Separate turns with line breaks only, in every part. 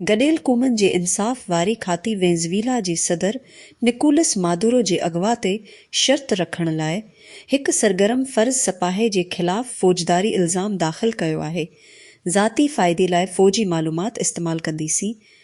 گڏيل قومن جي انصاف واري کاتي وينزويلا جي صدر نڪولس مادورو جي اغوا تي شرط رکڻ لاء هڪ سرگرم فرض سپاهي جي خلاف فوجداري الزام داخل ڪيو آهي، ذاتي فائدي لاء فوجي معلومات استعمال ڪنديسين،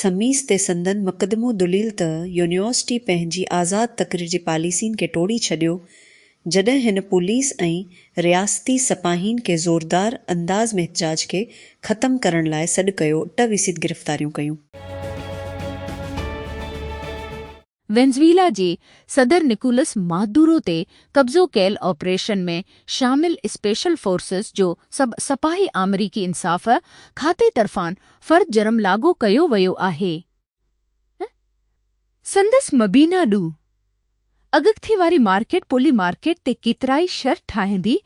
سميس تي سندن مقدمو دليل ته يونيورسٽي پنهنجي آزاد تقرير جي پاليسين کي ٽوڙي ڇڏيو جڏهن هن پوليس ۽ رياستي سپاهين کي زوردار انداز ۾ احتجاج کي ختم ڪرڻ لاء سڏ ڪيو ٽه ويسيد گرفتاريون ڪيون.
وينزويلا جي صدر نڪولس مادورو تي قبضو ڪيل آپريشن ۾ شامل اسپيشل فورسز جو سڀ سپاهي آمريڪي انصاف کاتي طرفان فرد جرم لاڳو ڪيو ويو آهي ۽ سندس مبينا ڏو اڳڪٿي واري مارڪيٽ پولي مارڪيٽ تي ڪيترائي شر ٺاهيندي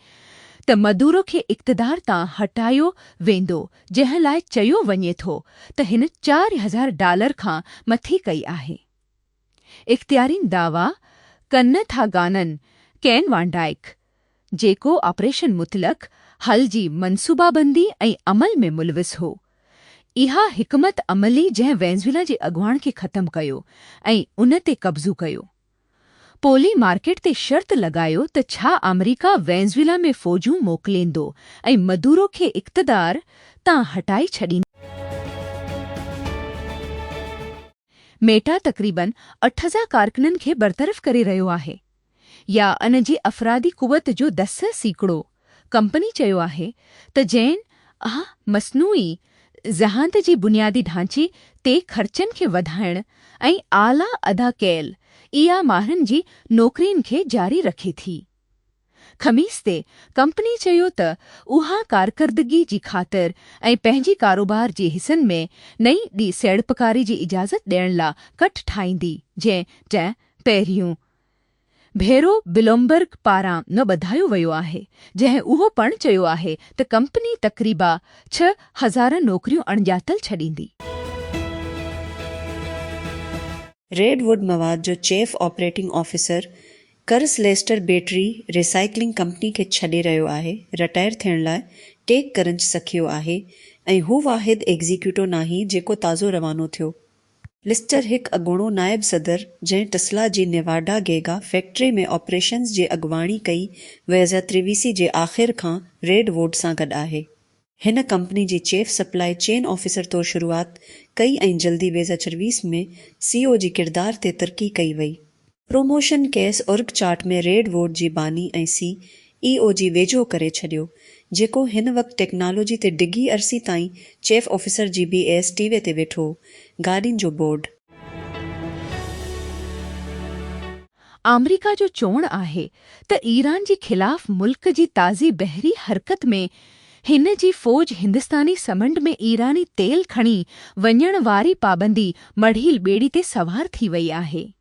ته مدورو کي اقتدار تان هٽايو ويندو جنهن لاء چيو وڃي ٿو ته هن چار هزار ڊالر کان مٿي ڪئي آهي. اختيارين دعويٰ ڪن ٿا گانن ڪين وان ڊائڪ، جيڪو آپريشن مطلق حل جي منصوبابندي ۽ عمل ۾ ملوث هو، اها حڪمت عملي جنهن وينزويلا جي اڳواڻ کي ختم ڪيو ۽ ان تي قبضو ڪيو، پولي مارڪيٽ تي شرط لڳايو ته ڇا آمريڪا وينزويلا ۾ فوجون موڪليندو ۽ مدورو کي اقتدار تان هٽائي ڇڏيندو. ميٽا تقريبن اٺ هزار ڪارڪنن کي برطرف ڪري رهيو آهي يا ان جي افرادي قوت جو دس سيڪڙو. ڪمپني چيو آهي ته جين اها مصنوعي ذهانت جي بنيادي ڍانچي تي خرچن کي وڌائڻ ۽ اعليٰ ادا ڪيل اي آء ماهرن جي نوڪرين کي جاري رکي ٿي. خميس تي ڪمپني چيو ته اها ڪارڪردگي جي خاطر ۽ پنهنجي ڪاروبار جي حصن ۾ نئين ڏي سيڙپڪاري جي اجازت ڏيڻ لا ڪٽ ٺاهيندي جنهن ٽه پهريون ڀيرو بلومبرگ پاران نه ٻڌايو ويو آهي جنهن اهو پڻ چيو آهي ته ڪمپني تقريبا ڇهه هزار نوڪريون اڻڄاتل ڇڏيندي.
ريڊ ووڊ مواد جو chief operating officer Chris Lester battery recycling company کي ڇڏي رهيو آهي رٽائر ٿيڻ لاء ٽيڪ ڪرنچ سکيو آهي ۽ هو واحد ايگزيڪيوٽو ناهي جيڪو تازو روانو ٿيو. لسٽر هڪ اڳوڻو نائب صدر جنهن ٽسلا جي نيواڊا گيگا فيڪٽري ۾ آپريشنز جي اڳواڻي ڪئي ويزا تريويسي جي آخر کان ريڊ ووڊ سان گڏ آهي. هن ڪمپني جي چيف سپلاء چين آفيسر طور شروعات ڪئي ۽ جلدي ويزا چرويس ۾ سي او جي ڪردار تي ترقي ڪئي وئي. پروموشن کيس اورگ چارٽ ۾ ريڊ ووٽ جي باني ۽ سي اي او جي ويجهو ڪري ڇڏيو، جيڪو هن وقت ٽيڪنالاجي تي ڊگهي عرصي تائين چيف آفيسر جي بي ايس ٽي وي تي ويٺو هو. گاڏين جو بورڊ.
آمريڪا جو چوڻ آهي ته ايران جي خلاف ملڪ جي تازي بحري حرڪت ۾ هن جي فوج هندستاني سمنڊ ۾ ايراني تيل کڻي وڃڻ واري پابندي مڙهيل ٻيڙي تي سوار ٿي وئي آهي.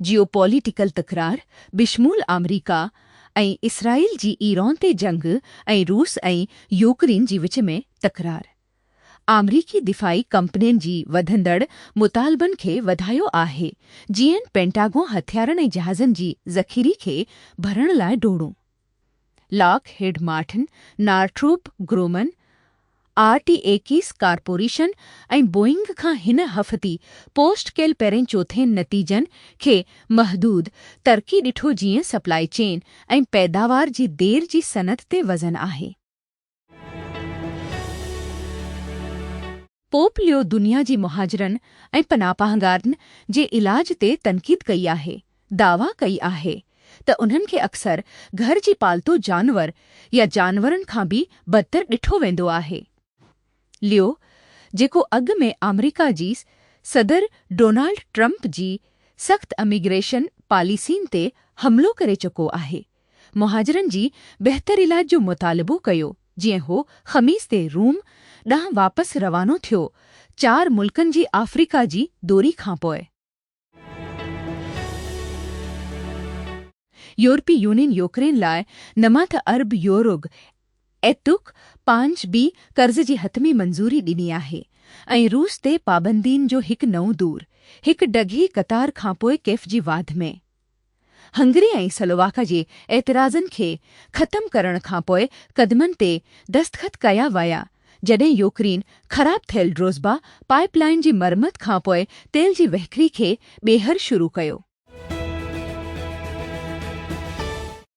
جيو پوليٽيڪل تڪرار بشمول آمريڪا ۽ اسرائيل جي ايران تي جنگ ۽ روس ۽ يوڪرين جي وچ ۾ تڪرار آمريڪي دفاعي ڪمپنين جي وڌندڙ مطالبن کي وڌايو آهي جيئن پينٽاگون هٿيارن ۽ جهازن جي ذخيري کي ڀرڻ لاء ڊوڙون Lockheed Martin, Northrop Grumman, R T X corporation ۽ Boeing کان هن هفتي پوسٽ ڪيل پهرين چوٿين نتيجن کي محدود ترقي ڏٺو جيئن سپلائي چين ۽ پيداوار جي دير جي صنعت تي وزن آهي. پوپ ليو دنيا جي مهاجرن ۽ پناهپاهگارن جي علاج تي تنقيد ڪئي آهي، دعويٰ ڪئي آهي ته انهن کي اڪثر گهر جي پالتو جانور يا جانورن کان به بدتر ڏٺو ويندو آهي. ليو جيڪو اڳ ۾ آمريڪا جي صدر ڊونالڊ ٽرمپ جي سخت اميگريشن پاليسين تي حملو ڪري چڪو آهي، مهاجرن جي بهتر علاج جو مطالبو ڪيو جيئن هو خميس تي روم ڏانهن واپس روانو ٿيو چار ملڪن جي آفريڪا جي دوري کانپوء. يورپي يونين يوڪرين لاء نماته ارب يوروگ اي تک پانچ بي قرض جي حتمي منظوري ڏني آهي ۽ روس تي پابندين جو هڪ نئون دور هڪ ڊگهي قطار کانپوء ڪيف جي واڌ ۾. هنگري ۽ سلوواڪا جي اعتراضن کي ختم ڪرڻ کان پوء قدمن تي دستخط ڪيا ويا، جڏهن يوڪرين خراب ٿيل ڊروزبا پائيپ لائين جي مرمت کان پوء تيل جي وهڪري کي ٻيهر شروع ڪيو.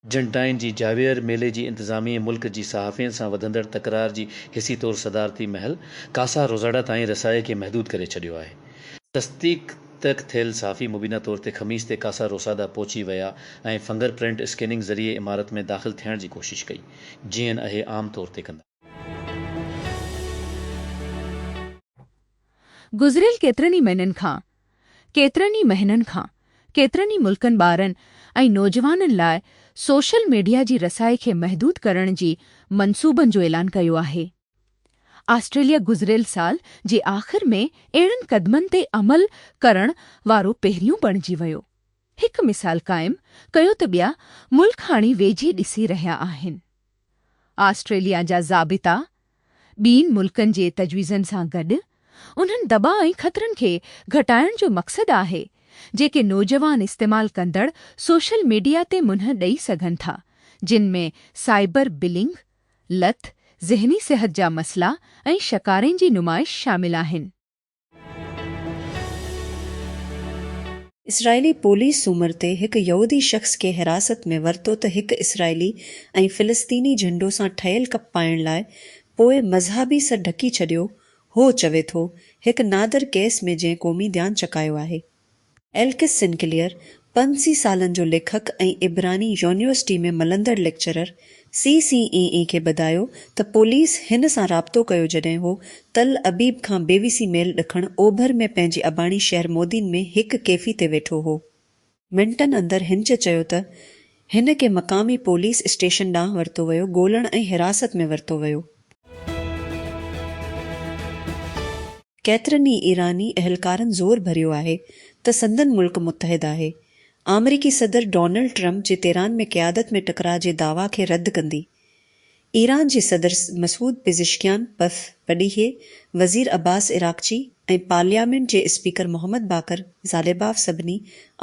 ارجنٽائن جي جاويئر ميلي جي انتظاميي ملڪ جي صحافين سان وڌندڙ تڪرار جي حسي طور صدارتي محل ڪاسا روزاڊا تائين رسائي کي محدود ڪري ڇڏيو آهي. تصديق. ترڪ ٿيل صحافي مبينا طور تي خميس تي ڪاسا روسادا پهچي ويا ۽ فنگر پرنٽ اسڪيننگ ذريعي عمارت ۾ داخل ٿيڻ جي ڪوشش ڪئي جيئن اهي عام طور تي ڪندا.
گذريل ڪيترن ئي مهنن کان ڪيترن ئي مهنن کان ڪيترن ئي ملڪن ٻارن ۽ نوجوانن لاء سوشل ميڊيا جي رسائي کي محدود ڪرڻ جي منصوبن جو اعلان ڪيو آهي. آسٽريليا گذريل سال جي آخر ۾ اهڙن قدمن تي عمل ڪرڻ وارو پهريون بڻجي ويو. هڪ مثال قائم ڪيو ته ٻيا ملڪ هاڻي ويجهي ڏسي رهيا آهن. آسٽريليا جا ضابطا ٻين ملڪن جي تجويزن سان گڏ انهن دٻاء ۽ خطرن کي گهٽائڻ جو مقصد آهي جيڪي نوجوان استعمال ڪندڙ سوشل ميڊيا تي منهن ڏئي سگهن ٿا جن ۾ سائبر بلنگ، لت، ذهني صحت جا مسئلا ۽ شڪارين جي نمائش شامل آهن.
اسرائيلي پوليس سومر تي هڪ يهودي شخص کي حراست ۾ ورتو ته هڪ اسرائيلي ۽ فلسطيني جهنڊو سان ٺهيل ڪپ پائڻ لاء پوء مذهبي سر ڍڪي ڇڏيو هو چوي ٿو هڪ نادر ڪيس ۾ جنهن قومي ڌيان ڇڪايو آهي. ايلڪس سنڪليئر، پنج سي سالن جو ليکڪ ۽ عبراني يونيورسٽي ۾ ملندڙ ليڪچرر، سي سي اي اي کي ٻڌايو ته پوليس هن سان رابطو ڪيو جڏهن هو تل ابيب کان بيوسي ميل ڏکڻ اوڀر ۾ پنهنجي اباڻي شهر مودين ۾ هڪ ڪيفي تي ويٺو هو. منٽن اندر هنچ چيو ته هن کي مقامي پوليس اسٽيشن ڏانهن ورتو ويو ڳولڻ ۽ حراست ۾ ورتو ويو. ڪيترن ئي ايراني اهلڪارن زور ڀريو آهي ته سندن ملڪ متحد آهي آمريڪي صدر ڊونلڊ ٽرمپ جي تيران ۾ قيادت ۾ ٽڪراء جي دعويٰ کي رد ڪندي ايران جي صدر مسعود پزشڪيان پف پڏيهي، وزير عباس عراقچي ۽ پارليامينٽ جي اسپيڪر محمد باقر زاليباف سڀني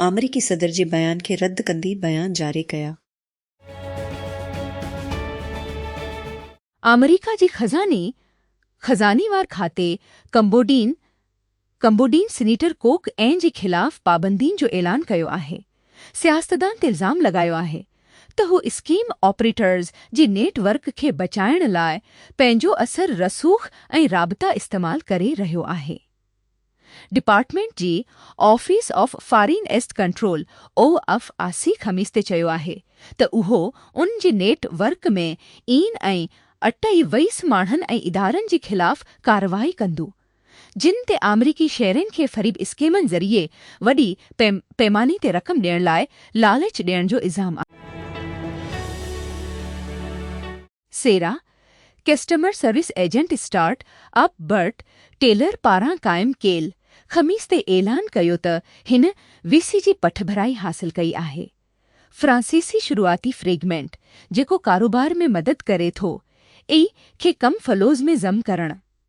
آمريڪي صدر جي بيان کي رد ڪندي بيان جاري ڪيا.
آمريڪا جي خزاني خزاني وار کاتي ڪمبوڊين ڪمبوڊين سينيٽر ڪوڪ اين جي خلاف پابندين جو اعلان ڪيو آهي، سياستدان تي الزام لڳايو آهي ته هو اسڪيم آپريٽرز جي نيٽ ورڪ کي بچائڻ لاء پنهنجو اثر رسوخ ۽ رابطا استعمال ڪري رهيو آهي. ڊپارٽمينٽ جي office of foreign asset control, O F A C, خميس تي چيو آهي ته اهو ان جي نيٽ ورڪ ۾ اين ۽ اٽئي ويس ماڻهن ۽ ادارن جي خلاف ڪارروائي ڪندو. جن تي آمريڪي شهرين کي فريب اسڪيمن ذريعي وڏي پيماني تي رقم ڏيڻ لاء لالچ ڏيڻ جو الزام آهي. Sierra, customer service agent startup Bret Taylor پاران قائم ڪيل، خميس تي اعلان ڪيو ته هن وي سي جي پٺڀرائي حاصل ڪئي آهي. فرانسيسي شروعاتي فريگمينٽ، جيڪو ڪاروبار ۾ مدد ڪري ٿو، اي کي ڪم فلوز ۾ ضم ڪرڻ،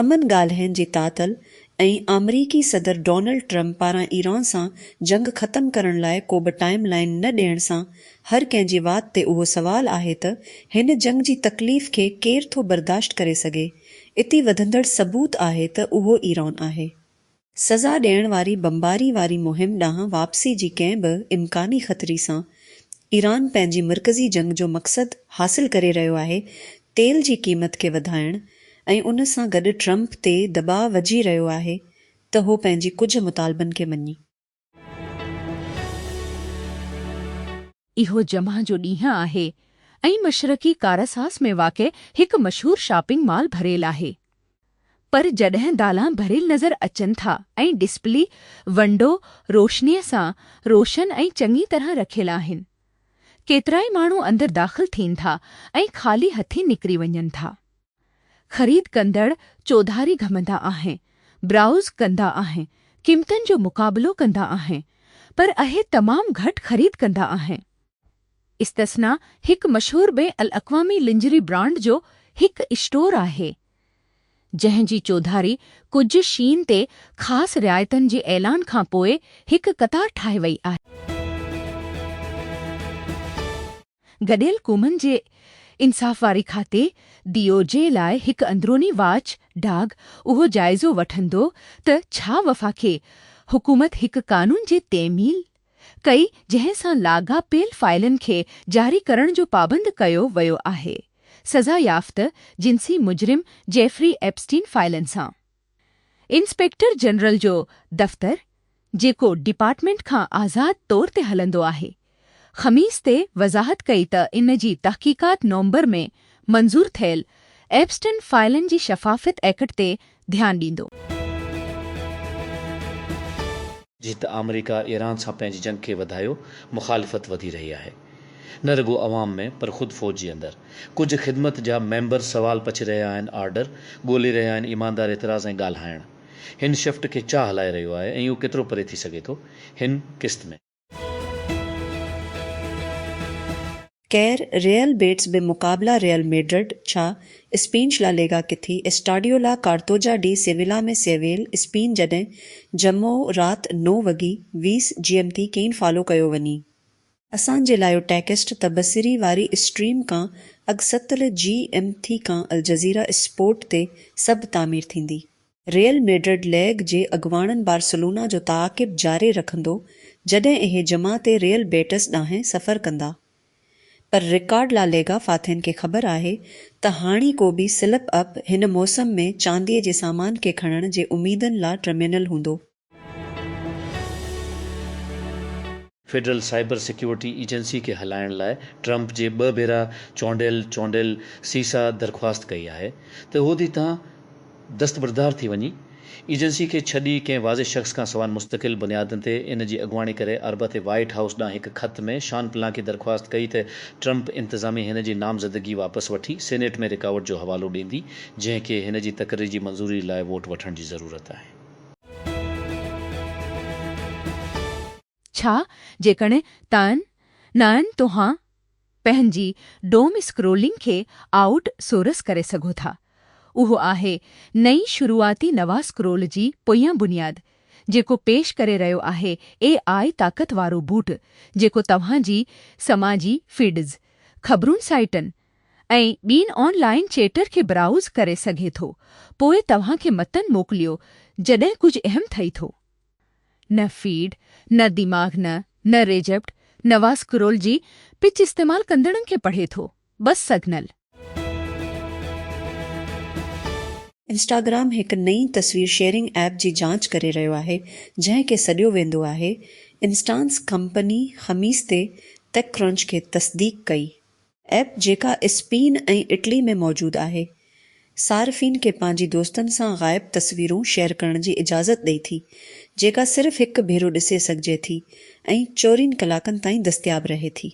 امن ڳالهين جي تعطل ۽ آمريڪي صدر ڊونلڊ ٽرمپ پاران ايران سان جنگ ختم ڪرڻ لاء ڪوبه ٽائيم لائين نه ڏيڻ سان هر ڪنهن جي وات تي اهو سوال آهي ته هن جنگ جي تڪليف کي ڪير ٿو برداشت ڪري سگهي اتي وڌندڙ ثبوت آهي ته اهو ايران آهي سزا ڏيڻ واري بمباري واري مهم ڏانهن واپسي جي ڪنهن به امڪاني خطري سان ايران پنهنجي مرڪزي جنگ جو مقصد حاصل ڪري رهيو آهي، تيل جي قيمت کي وڌائڻ ۽ ان سان گڏ ٽرمپ تي دٻاء وجهي رهيو آهي ته هو پنهنجي ڪجهه مطالبن کي مڃي.
اهو جمع جو ڏينهن آهي ۽ مشرقي ڪاراساس ۾ واقع هڪ مشهور شاپنگ مال ڀريل آهي. پر جڏهن دالان ڀريل نظر اچن ٿا ۽ ڊسپلي ونڊو روشنيء سان روشن ۽ چڱي طرح رکيل آهن. ڪيترائي ماڻهو اندر داخل ٿين ٿا ۽ خالي هٿين نڪري وڃن ٿا. خريد ڪندڙ چوڌاري گهمندا آهن، برائوز ڪندا آهن، قيمتن جو مقابلو ڪندا آهن، پر اهي تمام گهٽ خريد ڪندا آهن. استثنا هڪ مشهور بين الاقوامي لنجري برانڊ جو هڪ اسٽور آهي، جنهن جي چوڌاري ڪجهه شين تي خاص رعايتن جي اعلان کان پوء هڪ قطار ٺاهي وئي آهي. گڏيل قومن جي انصاف واري کاتي، ڊي او جي، لاء هڪ اندروني واچ ڊاگ اهو جائزو وٺندو ته ڇا وفاقي حڪومت هڪ قانون جي تعميل ڪئي جنهن سان لاڳاپيل فائلن کي جاري ڪرڻ جو پابند ڪيو ويو آهي سزا يافته جنسي مجرم جيفري ايپسٽين فائلن سان انسپيڪٽر جنرل جو دفتر جيڪو ڊپارٽمينٽ کان آزاد طور تي هلندو آهي، خميس تي وضاحت ڪئي ته ان جي تحقيقات نومبر ۾ منظور ٿيل ايپسٽن فائلن جي شفافيت ايڪٽ تي ڌيان ڏيندو.
جت آمريڪا ايران سان پنهنجي جنگ کي وڌايو مخالفت وڌي رهي آهي نه رڳو عوام ۾ پر خود فوج جي اندر ڪجهه خدمت جا ميمبر سوال پڇي رهيا آهن آرڊر ڳولي رهيا آهن ايماندار اعتراض ۽ ڳالهائڻ هن شفٽ کي چا هلائي رهيو آهي ۽ اهو ڪيترو پري ٿي سگهي ٿو هن قسط ۾.
خير ريئل بيٽس به مقابلا ريئل ميڊرڊ ڇا اسپينش لا ليگا ڪٿي اسٽاڊيو لا ڪارتوجا ڊي سيويلا ۾ سيويل اسپين جڏهن جمعو رات نو وڳي ويس جيم تي ڪين فالو ڪيو وڃي. اسان جي لايو ٽيڪسٽ تبصري واري اسٽريم ڪان اڳ ستل جي ايم ٿي ڪان الجزيره اسپورٽ تي سڀ تعمير ٿيندي. ريئل ميڊرڊ ليگ جي اڳواڻن بارسلونا جو تعاقب جاري رکندو جڏهن اهي جمع تي ريئل بيٽس ڏانهن سفر ڪندا پر رڪارڊ لا ليگا فاتحن کي خبر آهي ته هاڻيڪو به سلپ اپ هن موسم ۾ چاندي جي سامان کي کڻڻ جي اميدن لا ٽرمينل هوندو.
فيڊرل سائبر سيڪيورٽي ايجنسي کي هلائڻ لاء ٽرمپ جي ٻه ڀيرا چونڊيل چونڊيل سيسا درخواست ڪئي آهي ته اهو دي تان دستبردار ٿي وڃي ايجنسي کي ڇڏي ڪنهن واضح شخص کان سوان مستقل بنيادن تي ان جي اڳواڻي ڪري اربع تي وائيٽ هائوس ڏانهن هڪ خط ۾ شان پلانڪي درخواست ڪئي ته ٽرمپ انتظاميه هن جي نامزدگي واپس وٺي سينيٽ ۾ رڪاوٽ جو حوالو ڏيندي جنهن کي هن جي تقرري جي منظوري لاء ووٽ وٺڻ جي ضرورت آهي.
ڇا جيڪڻ تائن نائن توهان پنهنجي ڊوم اسڪرولنگ کي آئوٽ سورس ڪري سگهو ٿا. اهو آهي نئين شروعاتي نواسڪرول جي پويان بنياد جيڪو پيش ڪري رهيو آهي اي آء طاقت وارو بوٽ جيڪو توهان جي سماجي فيڊز، خبرون سائيٽن، ۽ ٻين آن لائن چيٽر کي برائوز ڪري سگهي ٿو پوء توهان کي متن موڪليو جڏهن ڪجهه اهم ٿئي ٿو. نه فيڊ، نه دماغ نه، نه ريجيپٽ، نواز اسڪرول جي پچ استعمال ڪندڙن کي پڙهي ٿو، بس سگنل. انسٽاگرام
هڪ نئين تصوير شيئرنگ ايپ جي جاچ ڪري رهيو آهي، جنهن کي سڏيو ويندو آهي انسٽانس ڪمپني خميس تي ٽيڪ ڪرنچ کي تصديق ڪئي ايپ جيڪا اسپين ۽ اٽلي ۾ موجود آهي، صارفين کي پنهنجي دوستن سان غائب تصويرون شيئر ڪرڻ جي اجازت ڏئي ٿي، جيڪا صرف هڪ ڀيرو ڏسي سگهجي ٿي ۽ چورين ڪلاڪن تائين دستياب رهي ٿي.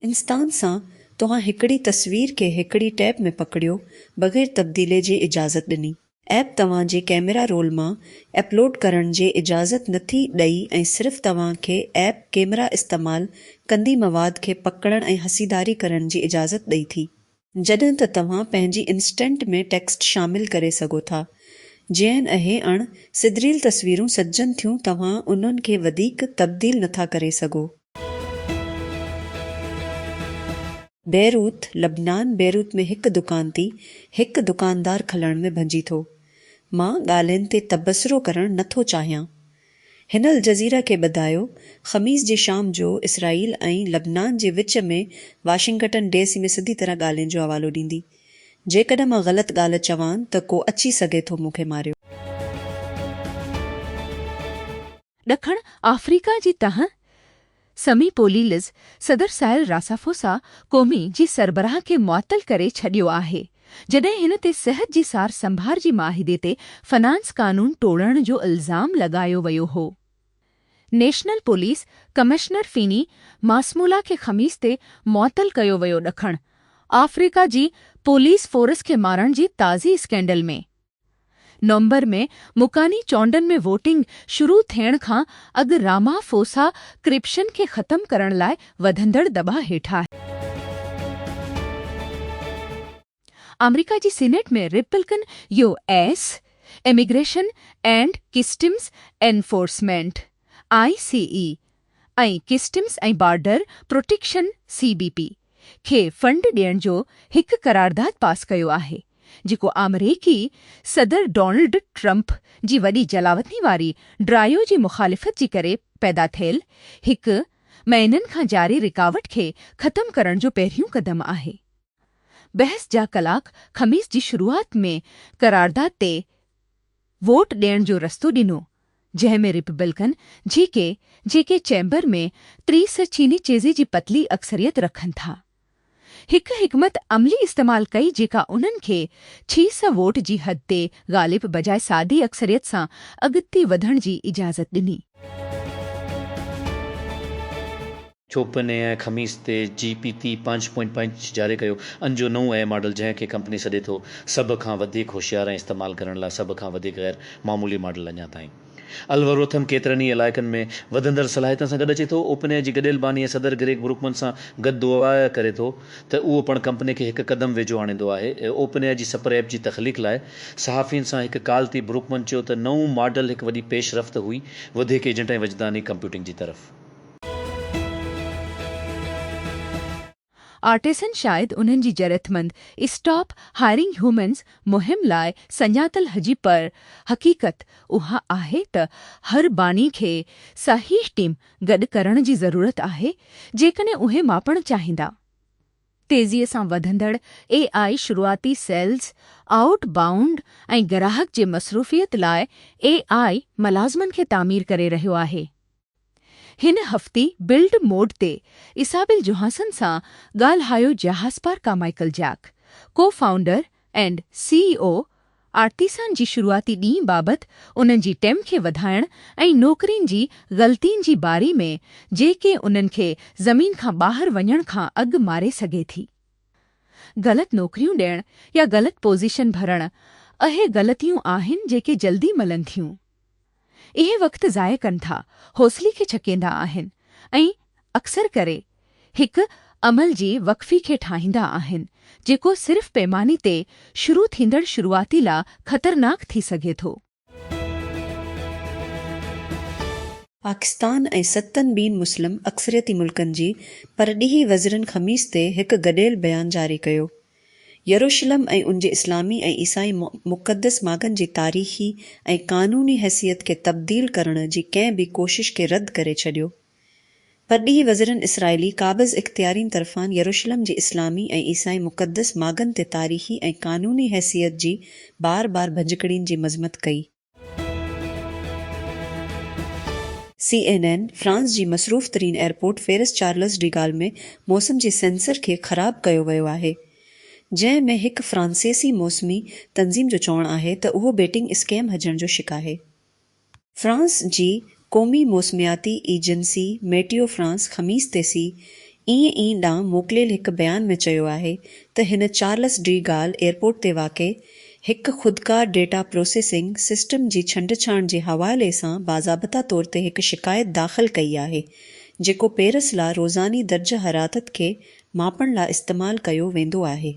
انستان سان توهان هڪڙي تصوير کي هڪڙي ٽيپ ۾ پڪڙيو بغير تبديلي جي اجازت ڏني. ايپ توهان جي ڪيميرا رول مان اپلوڊ ڪرڻ جي اجازت نٿي ڏئي ۽ صرف توهان کي ايپ ڪيميرا استعمال ڪندي مواد کي پڪڙڻ ۽ حسيداري ڪرڻ جي اجازت ڏئي ٿي. جڏهن ته توهان پنهنجي انسٽنٽ ۾ ٽيڪسٽ شامل ڪري سگهو ٿا. جيئن اهي اڻ سڌريل تصويرون سجن ٿيون توهان انهن کي وڌيڪ تبديل نٿا ڪري سگهو. بيروت، لبنان، بيروت ۾ هڪ دڪان تي هڪ دڪاندار کلڻ ۾ ڀڃي ٿو. مان ڳالهين تي تبصرو ڪرڻ نه ٿو چاهيان. هن الجزيره کي ٻڌايو، خميس جي شام جو اسرائيل ۽ لبنان جي وچ ۾ واشنگٽن ڊي سي ۾ سڌي طرح ڳالهين جو حوالو ڏيندي. جيڪڏهن مان غلط ڳالهه چوان ته ڪو اچي سگهي ٿو مون کي ماريو.
ڏکڻ آفريڪا جي تهه سمي پوليلز صدر سائل راسافوسا قومي جي سربراهه کي معطل ڪري ڇڏيو آهي جڏهن هن تي صحت جي سار سنڀار جي معاهدي تي فنانس قانون ٽوڙڻ جو الزام لڳايو ويو هو national police commissioner Fannie Masemola کي خميس تي معطل ڪيو ويو ڏکڻ آفريڪا جي پوليس فورس کي مارڻ جي تازي اسڪينڊل ۾ نومبر ۾ مڪاني چونڊن ۾ ووٽنگ شروع ٿيڻ کان اڳ رامافوسا ڪرپشن کي ختم ڪرڻ لاء وڌندڙ دٻاء هيٺ آهي. آمريڪا جي senate ۾ Republican U S immigration and customs enforcement, I C E, ۽ customs ۽ border protection, C B P, کي فنڊ ڏيڻ جو هڪ قرارداد پاس ڪيو آهي، جيڪو آمريڪي صدر ڊونلڊ ٽرمپ جي وڏي جلاوطني واري ڊرائيو جي مخالفت جي ڪري پيدا ٿيل هڪ مهينن کان جاري رڪاوٽ کي ختم ڪرڻ جو پهريون قدم آهي. بحث جا ڪلاڪ خميس جي شروعات ۾ قرارداد تي ووٽ ڏيڻ جو رستو ڏنو جنهن ۾ رپبلڪن جي ڪي جيڪي چيمبر ۾ ٽيس چيني چيزي جي پتلي اڪثريت رکن ٿا هڪ حڪمت عملي استعمال ڪئي جيڪا انهن کي ڇيس ووٽ جي حد تي غالب بجاء سادي اڪثريت سان اڳتي وڌڻ جي اجازت ڏني.
چوپن اي ۽ خميس تي جي پي تي پنج پوائنٽ پنج جاري ڪيو ان جو نئون اي ماڊل جنهن کي ڪمپني سڏي ٿو سڀ کان وڌيڪ هوشيار ۽ استعمال ڪرڻ لاء سڀ کان وڌيڪ غير معمولي ماڊل اڃا تائين الوريٿم ڪيترن ئي علائقن ۾ وڌندڙ صلاحيتن سان گڏ اچي ٿو اوپن اي جي گڏيل باني ۽ صدر گريگ بروڪمن سان گڏ دعويٰ ڪري ٿو ته اهو پڻ ڪمپني کي هڪ قدم ويجهو آڻيندو آهي اوپن اي جي سپر ايپ جي تخليق لاء صحافين سان هڪ ڪال تي بروڪمن چيو ته نئون ماڊل هڪ وڏي پيش رفت هئي وڌيڪ ايجنٽ ۽ وجداني ڪمپيوٽنگ جي طرف
آرٽيسن شايد انهن جي جرئتمند اسٽاپ هائرنگ هيومنز مهم لاء سڃاتل هجي پر حقيقت اها آهي ته هر باني کي صحيح ٽيم گڏ ڪرڻ جي ضرورت آهي جيڪڏهن اهي ماپڻ چاهيندا تيزي سان وڌندڙ اي آء شروعاتي سيلز، آئوٽ بائونڊ ۽ گراهڪ جي مصروفيت لاء اي آء ملازمن کي تعمير ڪري رهيو آهي. هن هفتي بلڊ موڊ تي ايسابيل جوهانسن سان ڳالهايو جياهاسپار ڪامائيڪل جياڪ، co founder and C E O Artisan جي شروعاتي ڏينهن بابت انهن جي ٽيم کي وڌائڻ ۽ نوڪرين جي غلطين جي باري ۾ جيڪي انهن کي زمين کان ٻاهر وڃڻ کان اڳ ماري سگهي ٿي غلط نوڪريون ڏيڻ يا غلط پوزيشن ڀرڻ اهي غلطيون آهن جيڪي جلدي ملن ٿيون. اهي وقت ضايع ڪن ٿا، حوصلي کي ڇڪيندا آهن ۽ اڪثر ڪري هڪ عمل جي وقفي کي ٺاهيندا آهن، جيڪو صرف پيماني تي شروع ٿيندڙ شروعاتي لا خطرناڪ ٿي سگهي ٿو.
پاڪستان ۽ ستن ٻين مسلم اڪثريتي ملڪن جي پرڏيهي وزرن خميس تي هڪ گڏيل بيان جاري ڪيو. يروشلم ۽ ان جي اسلامي ۽ عيسائي مقدس ماڳن جي تاريخي ۽ قانوني حيثيت کي تبديل ڪرڻ جي ڪنهن به ڪوشش کي رد ڪري ڇڏيو. پرڏيهي وزيرن اسرائيلي قابض اختيارين طرفان يروشلم جي اسلامي ۽ عيسائي مقدس ماڳن تي تاريخي ۽ قانوني حيثيت جي بار بار ڀڃڪڙين جي مذمت ڪئي. سي اين اين، فرانس جي مصروف ترين airport Paris Charles de Gaulle ۾ موسم جي سينسر کي خراب ڪيو ويو آهي جنهن ۾ هڪ فرانسيسي موسمي تنظيم جو چوڻ آهي ته اهو بيٽنگ اسڪيم هجڻ جو شڪ آهي. فرانس جي قومي موسمياتي ايجنسي ميٽيو فرانس خميس تي سي اين اين ڏانهن موڪليل هڪ بيان ۾ چيو آهي ته هن چارلس ڊي گال ايئرپورٽ تي واقع هڪ خودڪار ڊيٽا پروسيسنگ سسٽم جي ڇنڊڇاڻ جي حوالي سان باضابطا طور تي هڪ شڪايت داخل ڪئي آهي جيڪو پيرس لا روزاني درجه حرارت کي ماپڻ لا استعمال ڪيو ويندو آهي.